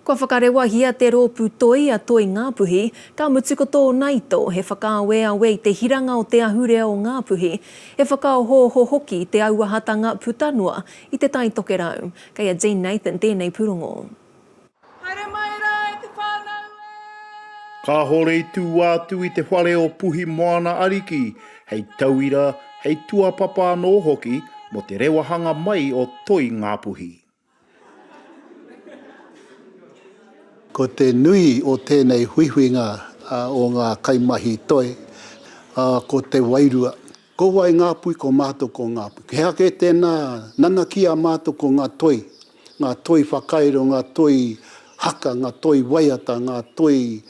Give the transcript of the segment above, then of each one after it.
Kua whakarewahia te rōpū toi a Toi Ngāpuhi, ka mutu ko tōna ito he whakaaweawe i te hiranga o te ahurea o Ngāpuhi, he whakaohooho hoki i te auahatanga puta noa i Te Tai Tokerau. Kei a Jean Nathan tēnei pūrongo. Haere mai rā e te whānau e! Kāore i tū atu i te whare o Puhi Moana Ariki hei tauira, hei tuapapa anō hoki mō te rewahanga mai o Toi Ngā Puhi. Ko te nui o tēnei huihuinga o ngā kaimahi toi, ko te wairua. Ko wai ngā pui ko mātou ko ngā pui. He aha kē tēnā nanakia mātou ko ngā toi, ngā toi whakairo, ngā toi haka, ngā toi waiata, ngā toi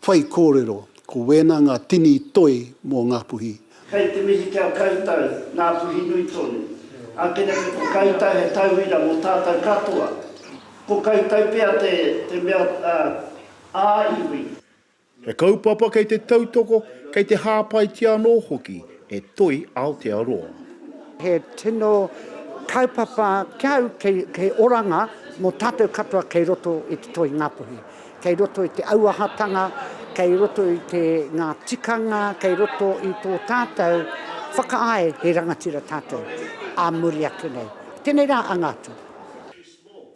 whaikōrero, ko wēnā ngā tini toi mō Ngāpuhi. Kei te mihi ki a koutou, Ngāpuhi nui tonu. Ākeneke ko koutou he tauira mō tātou katoa. Ko koutou pea te mea ā-iwi. He kaupapa kei te tautoko, kei te hāpaitia anō hoki e Toi Aotearoa. He tino kaupapa ki au kei oranga mō tātou katoa kei roto i te toi Ngāpuhi. Kei roto i te auahatanga, kei roto i te ngā tikanga, kei roto i tō tātou whakaae he rangatira tātou ā muri ake nei. Tēnei rā anga atu.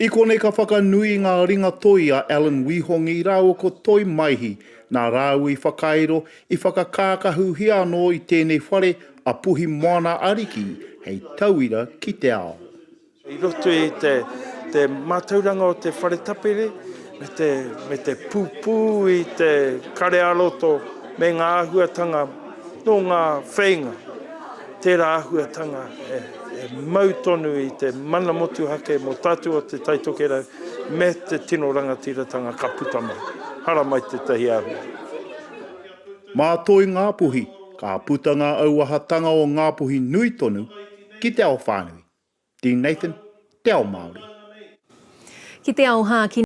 I konei ka whakanui ngā ringatoi a Alan Wihongi rāua ko Toi Maihi, nā rāua i whakairo, i whakakākahuhia anō i tēnei whare a Puhi Moana Ariki hei tauira ki te ao. I roto i te mātauranga o te whare tapere me te pupū i te kare ā-roto me ngā āhuatanga nō ngā wheinga. Tērā āhuatanga e mau tonu i te mana motuhake mō tātou o Te Tai Tokerau me te tino rangatiratanga ka puta mai. Hara mai tētahi āhua. Mā Toi Ngāpuhi ka puta ngā auahatanga o Ngāpuhi nui tonu ki te ao whānui. Dean Nathan, Te Ao Māori. Ki te ao hākinakitanga.